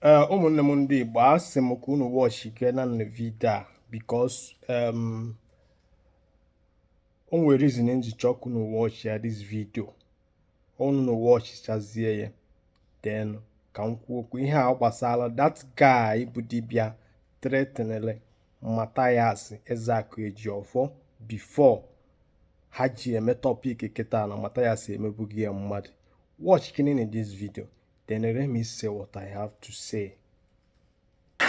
eh, ụmụnne m ndị Igbo asị m ka unu watchikene video a because o nwere reason m ji chọọ ka unu watch ya this video unu na watchchazie ya then ka m kwuo okwu ihe a gbasara that guy bụ dibịa threatenele Mathias Ezeaku Ejiofor before ha ji eme topic kịta na Mathias emebughị ya mmadụ watch kenenụ this video Then let me say what I have to say.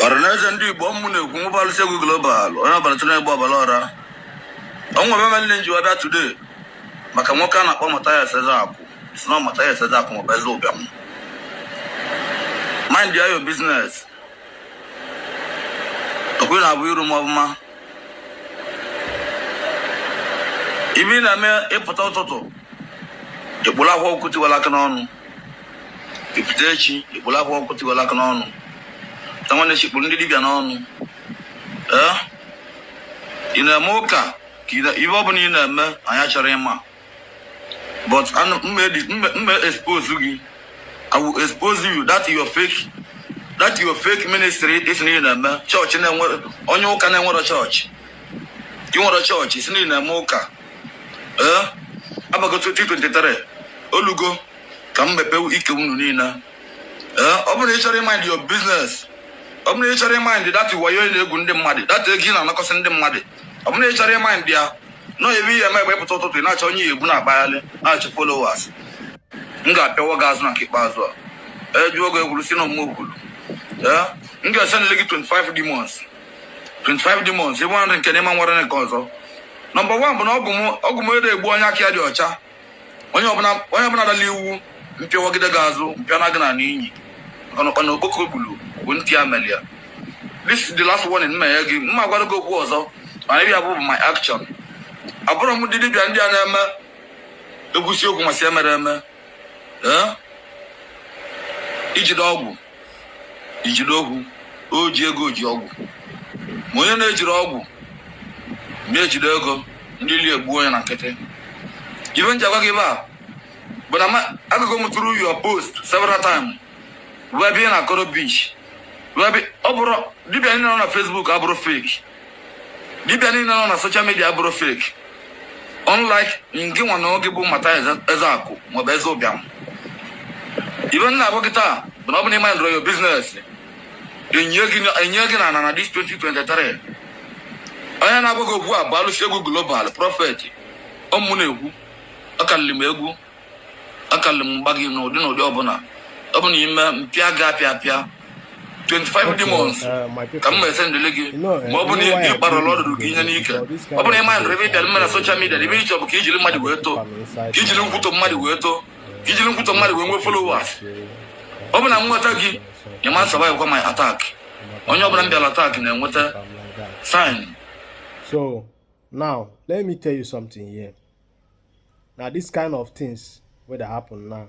ọranaeze ndị igbo ọ mụ na-ekwu mụ bụ alụsi egwu global onye ọbara tụrụ egbe ọbara ọra o nwe ibe mere m ji wee bịa today maka nwoke a na-akpọ Mathias Ezeaku si na Mathias Ezeaku maọbụ eze ụbịam mind ya your business okwu na-abụ iru m ọbụma ibe ị na-eme ị pụta ụtụtụ ị kpụrụ Akwa Ọkụkọ Tiwara Akị n'ọnụ ị pụta echi ị kpụrụ Akwa Ọkụkọ Tiwara Akị n'ọnụ na nwanne echi ị kpụrụ ndị dibịa n'ọnụ ee ị na-eme ụka ka ị na- ihe ọ bụla ị na-eme anyị achọrọ ịma but anụ- mma edi- m ma- m ma expose gị i will expose you that your fake that your fake ministry ị sị na ị na-eme chọọchị na-enwere onye ụka na-enwere chọọchị ị nwere chọọchị ị sị na ị na-eme ụka ee abago 2023 o lugo ka m mepewe ike unu niile ee ọ bụrụ na ị chọrọ ịmind your business ọ bụrụ na ị chọrọ ịmind that wayo ị na-egwu ndị mmadụ that ego ị na-anakọsị ndị mmadụ ọ bụrụ na ị chọrọ ịmind ya nọ ebe ihe eme egbe pụta ụtụtụ ị na-achọ onye ị bu na-akpagharị na-achọ followers m ga-apịawa gị azụ na nke ikpeazụ a a jụọ gị egwuru si na ụmụ okwuru ee m ga-esendili gị 25 demons 25 demons ịbụ nri nke n'ime nwere nke ọzọ number one bụ na ọgwụ m ọgwụ m ede egbu onye aka ya dị ọcha onye ọbụla onye ọbụla dala iwu m pịawagide gị azụ m pịana gị ana n'ihi na ụkpana okpoko gburu bụ ntị ya mere ya this is the last warning m na-enye gị m ma agwara gị okwu ọzọ mana ịbịa bụ my action abụrụ m ndị dibịa ndị a na-eme egwusi ọgwụ masị emere eme ee ijide ọgwụ ijide ọgwụ o ji ego ji ọgwụ ma onye na-ejirọ ọgwụ ma ejide ego ndị ilo egbuo onye na nkịtị ibe m ji agwa gị ibe a bụ na ma- agụgo m through your post several times wee bịa na-akọ rubbish wee bịa ọ bụrụ dibịa niile nọ na facebook abụrụ fake dibịa niile nọ na social media bụrụ fake unlike ngị nwa na onwe gị bụ Mathias Ezeaku maọbụ eze ụbịam ibe m na-agwa gị taa bụ na ọ bụ na ị mindịrọ your business e nie gị n'ana na this 2023 onye na-agwa gị okwu a bụ alụsi egwu global prophet ọ mụ na-ekwu ọ karịrị m egwu akalị m mgba gị n'ụdị n'ụdị ọbụla ọ bụ na ime mpịa gị apịa apịa 25 demons uh, ka m ma esendele gị ma ọ bụ na ị kparala ọdụdụ gị tinye n'ike ọ bụ na ịma ndụrụ ebe ị bịara mme na social media ihe ị chọ bụ ka ijiri mmadụ wee too ka ijiri nkwutọ mmadụ wee too ka ijiri nkwutọ mmadụ wee nwee followers ọ bụ na m nweta gị ị ma nsurvivekwa my attack onye ọbụla m bịara attack na-enweta sign so now let me tell you something here na this kind of things wey dey happen now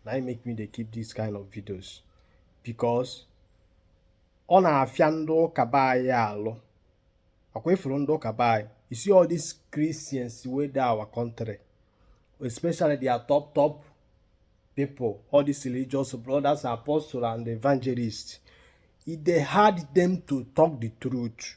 na im make me dey keep this kind of videos because ọ na-afịa ndị ụka be anyị alụ akwa ifuru ndị ụka be anyị you see all these Christians wey dey our country especially their top top people all these religious brothers apostles and evangelists e dey hard them to talk the truth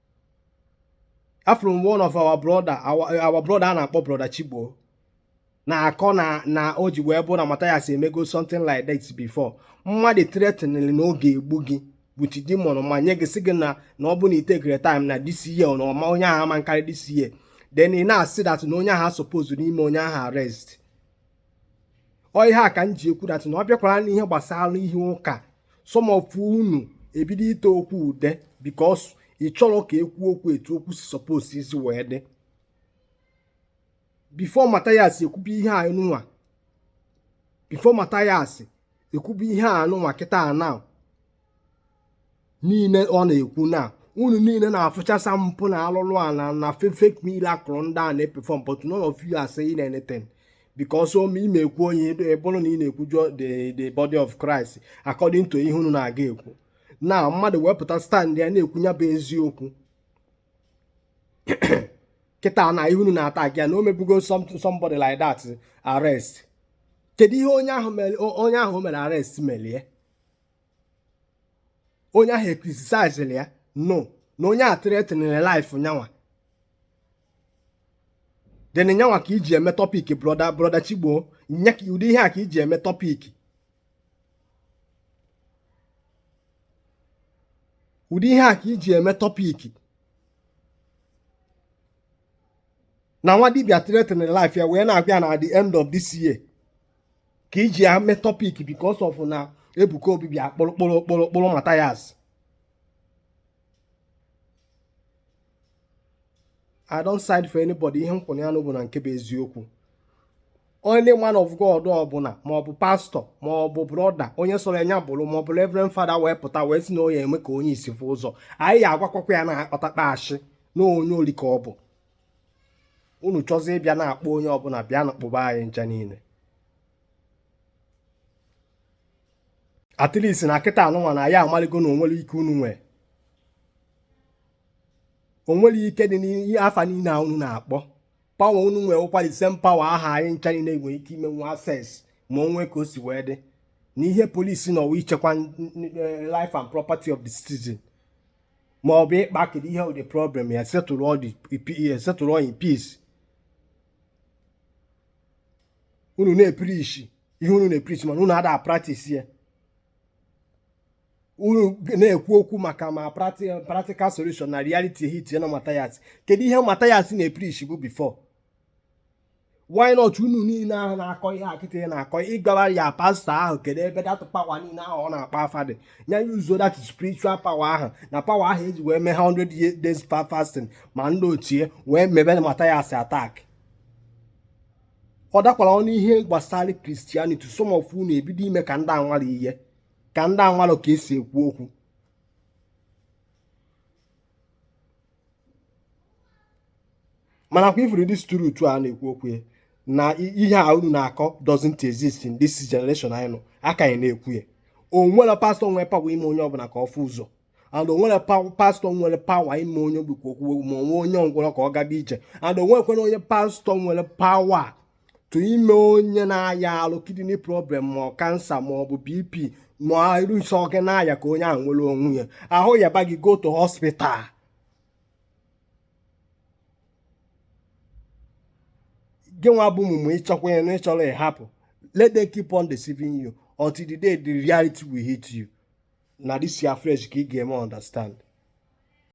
afụrụ m one of our brother our brother a na-akpọ brother Chigbo na-akọ na na o ji wee bụ na Mathias emego something like that before mmadụ threatening na ọ ga-egbu gị with demon ma nye gị sị gị na na ọ bụ na ị takerọ time na this year na ọma onye ahụ ama nkarị this year then ị na-asị that na onye ahụ supposed ime onye ahụ arrest ọ ihe a ka m ji ekwu that na ọ bịakwara n'ihe gbasara ihe ụka some of unu ebido ite okwu ude because ị chọrọ ka ekwu okwu etu okwu si suppose isi wee dị before Mathias ekwubi ihe a nụnwa before Mathias ekwubi ihe a nụnwa kịta na niile ọ na-ekwu na unu niile na-afụchasa mpụ na alụlụana na fake miracle ndị a na-eperform but none of you are saying anything because ome ị na-ekwu onye bụrụ na ị na-ekwujọ the body of Christ according to ihe unu na-aga ekwu na mmadụ wepụta stand ya na-ekwu ya bụ eziokwu kịta na ihe unu na-atagị ya na o mebugo somebody like that arrest kedu ihe onye ahụ mere arrest melie onye ahụ ecriticizili ya no na onye a threatenere life nyanwa then nyanwa ka iji eme topic brother brother Chigbo nya ka ụdị ihe a ka iji eme topic ụdị ihe a ka iji eme topic na nwa dibịa threatenere life ya wee na-agwa ya na at the end of this year ka iji ya mee topic because of na Ebuka Obi bịa kpụrụ Mathias I don't side for anybody ihe m kwụrụ ya nọ bụ na nke bụ eziokwu onye man of God ọbụla ma ọ bụ pastor ma ọ bụ brother onye sọrọ nya bụrụ ma ọ bụ reverend father wee pụta wee sị na nya eme ka onye isi fụ ụzọ anyị ya agwakwakwa ya na ọtakpa ashị na onye oli ka ọ bụ unu chọzie ịbịa na-akpụ onye ọbụla bịanụ kpụba anyị ncha niile at least na kịta anụnwa na ya amaligo na onwere ike unu nwee onwere ike dị n'ihe afa niile a unu na-akpọ power unu nwee ụkwa the same power aha anyị ncha niile nwere ike imenwu access ma onwe ka o si wee dị na ihe police nọ bụ ichekwa eh, life and property of the citizen ma ọ bụ ịkpa kedu ihe ụdị problem ya settle all in peace unu na-epreach ihe unu na-epreach mana unu ada practice ya unu na-ekwu okwu maka ma practical solution na reality hit na mathias kedu ihe mathias na-epreachbu before why not unu niile ahụ na-akọ ihe a kịta na-akọ ịgwara ya pastor ahụ kedu ebe that power niile ahụ ọ na-akpa afa dị ya ya use that spiritual power ahụ na power ahụ eji wee mee 100 days fasting ma ndị otie wee mebe na mathias attack ọ dakwara ọnụ ihe gbasara christianity some of unu ebido ime ka ndị anwara ihe ka ndị anwara ka esi ekwu okwu mana kwa ị furu this truth a na-ekwu okwu ya na ihe a unu na-akọ doesn't exist in this generation anyị nọ a ka anyị na-ekwu ya o nwere pastor nwere power ime onye ọbụla ka ọ fụ ụzọ and o nwere pastor nwere power ime onye ogbi ka o kwuo ma ọ bụ onye ngwọrọ ka ọ gaba ije and o nwekwere onye pastor nwere power to ime onye na-aya ahụ kidney problem ma ọ cancer ma ọ bụ bp ma iru nsọ gị na-aya ka onye ahụ nwere onwe ya ahụ yaba gị go to hospital gị nwa bụ mumu ịchọkwa ya na ịchọrọ ịhapụ let them keep on deceiving you until the day the reality will hit you na this your flesh ka ị ga-eme understand